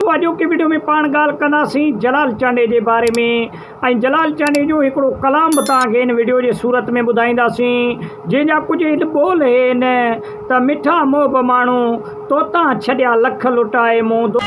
سو اڄوڪي وڊيو ۾ پاڻ ڳالهه ڪنداسين جلال چانڊئي جي باري ۾ ۽ جلال چانڊئي جو هڪڙو ڪلام به توهان کي هن وڊيو جي صورت ۾ ٻڌائينداسين جنهن جا ڪجهه هيت ٻول هين ته مٺا محب ماڻهو توتان ڇڏيا لک لٽائي مون دو.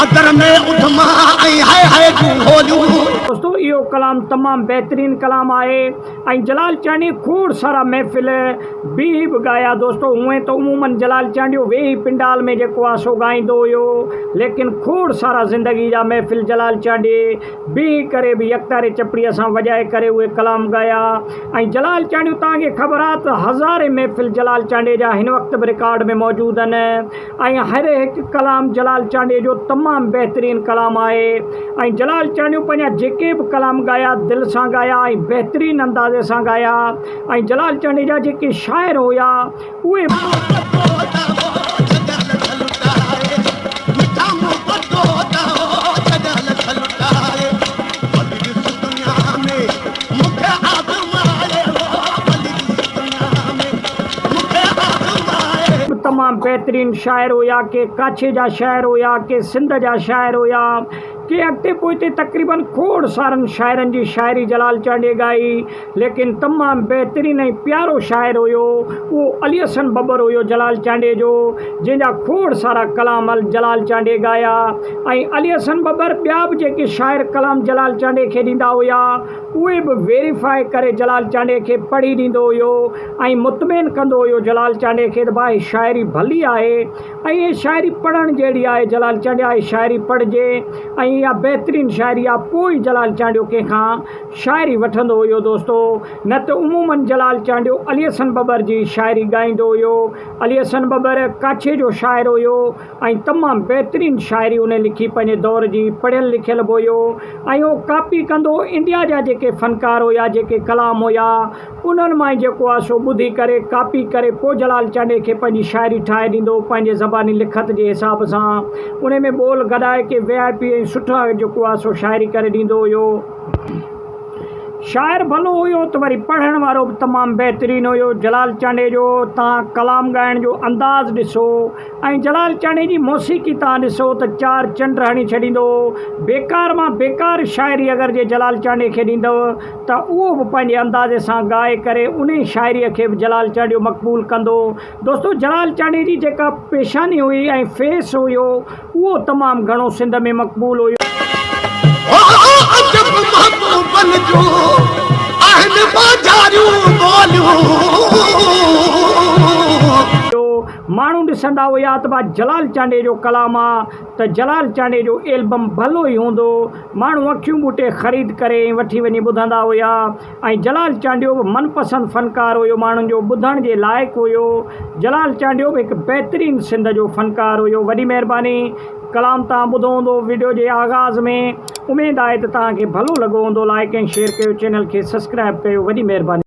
ادر ۾ اڌما ۽ هاء هاء جون هوليون. دوستو اهو ڪلام تمام بهترين ڪلام آهي ۽ جلال چانڊيي کوڙ سارا محفل بيهي به ڳايا دوستو هونئن ته عمومن جلال چانڊيو ويهي پنڊال ۾ جيڪو آهي سو ڳائيندو هيو ليڪن کوڙ سارا زندگي جا محفل جلال چانڊيي بيهي ڪري به يڪتاري چپڙي سان وڄائي ڪري اهي ڪلام ڳايا ۽ جلال چانڊيو توهان کي خبر آهي ته هزارين محفل جلال چانڊيي جا هن وقت به رڪارڊ ۾ موجود آهن ۽ هر هڪ ڪلام جلال چانڊيو جو تمام بهترين ڪلام آهي ۽ جلال چانڊيو پنهنجا جيڪي به ڪلام ڳايا دل سان ڳايا ۽ بهترين اندازي سان ڳايا ۽ جلال چانڊيو جا جيڪي شاعر هيا اهي تمام بهترين شاعر هيا ڪي ڪاڇي جا شاعر هيا ڪي سنڌ جا شاعر هيا ڪي اڳتي پوئتي تقريباً کوڙ سارن شاعرن جي شاعري جلال چانڊيي ڳائي ليڪن تمام بهترين ۽ پيارو شاعر هيو اهو علي حسن ٻٻر هيو جلال چانڊيي جو جنهن جا کوڙ سارا ڪلام ال جلال چانڊيي ڳايا ۽ علي حسن ٻٻر ٻيا به جيڪي شاعر ڪلام جلال چانڊيي کي ڏيندا هيا اهي به ويريفائي ڪري جلال چانڊيي کي پڙهي ڏيندو هيو ۽ مطمئن ڪندو هيو جلال چانڊيا کي ته ڀاء هي شاعري ڀلي آهي ۽ هي شاعري پڙهڻ جهڙي آهي جلال چانڊيا هي شاعري پڙهجي ۽ اها بهترين شاعري آهي پوء ئي جلال چانڊيو ڪنهن کان شاعري وٺندو هيو دوستو نه ته عمومن جلال چانڊيو علي حسن ٻٻر جي شاعري ڳائيندو هيو علي حسن ٻٻر ڪاڇي جو شاعر هيو ۽ تمام بهترين شاعري هن لکي پنهنجي دور جي پڙهيل لکيل به هيو ۽ اهو ڪاپي ڪندو انڊيا جا جيڪي فنڪار هيا جيڪي ڪلام هيا انهن مان ئي جيڪو آ سو ٻڌي ڪري، ڪاپي ڪري، پوء جلال چانڊئي کي پنهنجي شاعري ٺاهي ڏيندو هو، پنهنجي زباني لکت جي حساب سان. انهيء ۾ ٻول گڏائي ڪي وي آء پي ۽ سٺا جيڪو آ سو شاعري ڪري ڏيندو هيو. شاعر ڀلو هيو ته وري پڙهڻ وارو به تمام بهترين هيو. جلال چانڊئي جو تان ڪلام ڳائڻ جو انداز ڏسو ۽ جلال چانڊئي جي موسيقي تان ڏسو ته چار چنڊ هڻي ڇڏيندو هو. بيڪار مان بيڪار شاعري اگر جي جلال چانڊئي کي ڏيندؤ ته اهو به پنهنجي اندازي سان ڳائي ڪري انهي شاعريء کي به جلال چانڊيو مقبول ڪندو. دوستو جلال چانڊيي جي جيڪا پيشاني هئي ۽ فيس هيو اهو تمام گهڻو سنڌ ۾ مقبول هيو. عجب محبوبن جون آهن ٻاجهاريون ٻوليون. ماڻهو ڏسندا هيا ته ڀا جلال چانڊيي جو ڪلام آ ته جلال چانڊيي جو ايلبم ڀلو ئي هوندو. ماڻهو اکيون ٻوٽي خريد ڪري ۽ وٺي وڃي ٻڌندا هيا ۽ جلال چانڊيو به من پسند فنڪار هيو ماڻهن جو ٻڌڻ جي لائق هيو جلال چانڊيو به هڪ بهترين سنڌ جو فنڪار هيو وڏي مهرباني ڪلام توهان ٻڌو هوندو وڊيو جي آغاز ۾ اميد آهي ته توهان کي ڀلو لڳو هوندو لائڪ ۽ شيئر ڪيو چينل کي سسڪرائب ڪيو وڏي مهرباني.